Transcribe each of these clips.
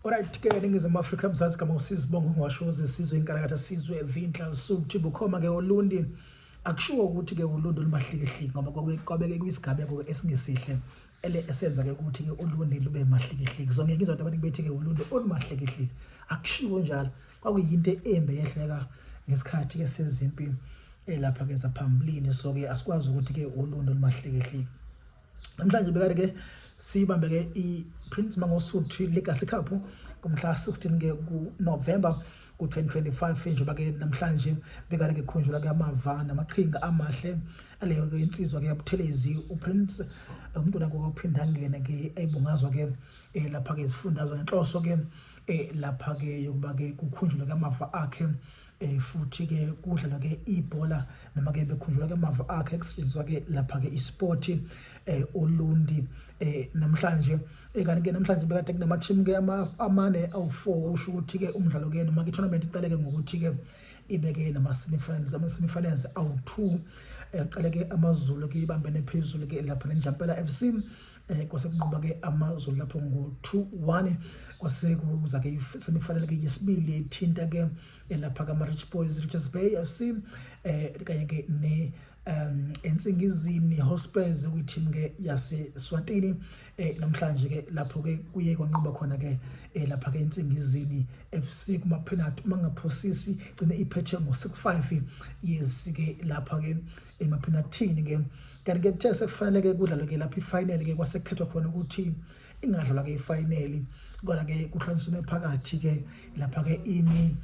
Alright ke ningizimu Afrika mzansi kama usizi bongo ngwashoze sizwe inkalakatha sizwe evinhla suthi bukhoma ke olundi akushiwo ukuthi ke ulundi lumahlikihliki ngoba kwabeke kwisigameko esingesihle ele esenza ke ukuthi ke ulundi lube mahlikihliki zonke ngizwa abantu abaningi bethi ke ulundi olumahlikihliki akushiwo njalo kwakuyinto embe yehleka ngesikhathi ke sezimpi elapha eh, ke zaphambilini so ke asikwazi ukuthi ke ulundi olumahlikihliki namhlanje bekade ke siyibambe ke i-prince mangosuthi legacy cup kumhla 16 ke kunovemba ku-2025 njengoba ke namhlanje bekade ngikhunjula ke amava namaqhinga amahle aleyo ke insizwa ke yabuthelezi uprince umuntu nako ophinda ngene ke ayibungazwa ke eh, lapha ke izifundazwe ngenhloso ke eh, lapha ke yokuba ke kukhunjulwe ke amava akhe Eh, futhi-ke kudlalwa-ke ibhola noma-ke bekhunjulwa-ke amava akhe kusetshenziswa-ke lapha-ke ispoti um eh, olundi um eh, namhlanje kanti-ke namhlanje bekade kunama-team-ke amane awu-four usho ukuthi-ke umdlalo-ke noma-ke itournament iqaleke ngokuthi-ke ibeke nama-semifinals ama-semifinals awu-two um qale-ke amazulu-ke ibambene phezulu-ke lapha nenjampela f c eh kwase kunqoba ke amazulu lapho ngo 2-1 kwase kuza ke semifanele ke yesibili ethinta ke eh, lapha ka Rich Boys Richards Bay FC eh kanye ke ne um ensingizini hospes kwi-team ke yaseswatini eh namhlanje ke lapho ke kuye kwanqoba khona ke eh, lapha ke ensingizini FC kuma penalty mangaphosisi gcine iphethe ngo 65 yes ke lapha ke emaphenathini ke kanti ke kuthe sekufanele ke kudlalwe ke lapha ifinal ke kwasekhethwa khona ukuthi ingadlalwa ke ifinal kodwa ke kuhlonsiwe phakathi ke lapha ke ini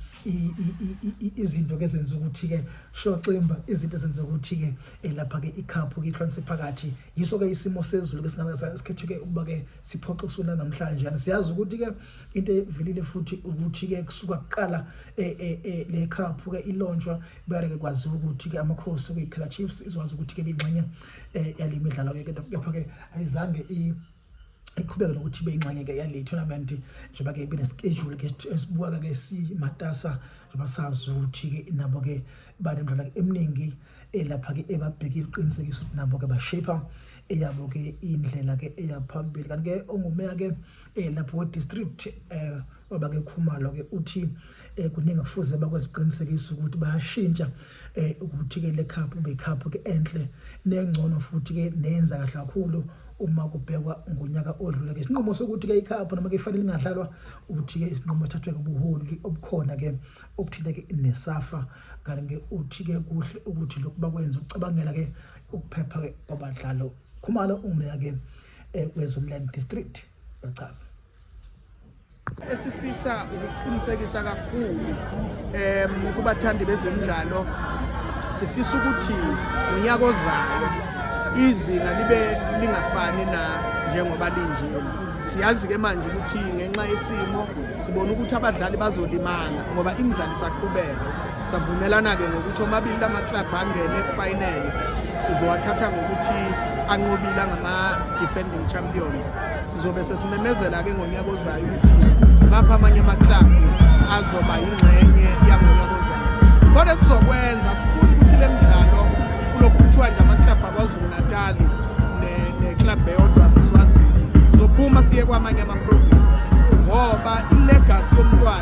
izinto ke zenza ukuthi ke shoximba izinto zenza ukuthi ke eh, lapha ke icup ke ihlonsiwe phakathi yiso ke isimo sezulu ke singasikhethe ke ukuba ke siphoxe usuna namhlanje yani siyazi ukuthi ke into evelile futhi ukuthi ke kusuka kuqala eh, eh, le cup ke ilonjwa Buyake kwaziwa ukuthi-ke amakhosi okuyi-kaizer chiefs izokwazi ukuthi-ke biyingxenye um eh, yale midlalo-ke kepha-ke ayizange iqhubeke nokuthi ibe ingxenye-ke yale tournament njengoba-ke benesikejuli ke esibuka-ke simatasa njengoba sazi ukuthi-ke nabo-ke banemidlalo eminingi eh, lapha-ke ebabhekile uqinisekisa ukuthi nabo-ke bashape eyabo-ke indlela-ke eyaphambili kanti-ke ongumeya-ke um eh, lapho we-district um Baba ke Khumalo ke uthi eh kuningi kufuze bakweziqinisekisa ukuthi bayashintsha eh ukuthi ke le cup be cup ke enhle nengcono futhi ke nenza kahle kakhulu uma kubhekwa ngonyaka odlule ke isinqumo sokuthi ke icup noma ke ifanele ingadlalwa uthi ke isinqumo thathwe kubuholi obukhona ke obuthinta ke nesafa kanti ke uthi ke kuhle ukuthi lokhu bakwenza ucabangela ke ukuphepha ke kwabadlalo khumalo umya ke eh, kwezomland district bachaza esifisa ukuqinisekisa kakhulu um kubathandi bezemidlalo sifisa ukuthi ngonyaka ozayo izinga libe lingafani na njengoba linjena siyazi-ke manje ukuthi ngenxa yesimo sibona ukuthi abadlali bazolimala ngoba imidlalo isaqhubeka Savumelana-ke ngokuthi omabili la maklabhu angene ekufinele sizowathatha ngokuthi anqobile angama-defending champions sizobe sesimemezela-ke ngonyaka ozayo ukuthi ngimaphi amanye amaklabhu azoba yingxenye yangonyaka ozayo kodwa sizokwenza sifuna ukuthi le mdlalo kulokhu kuthiwa nje amaklabhu akwazulu-natali neklabhu eyodwa siswazini sizophuma siye kwamanye amaprovinsi ngoba ilegasi yomntwana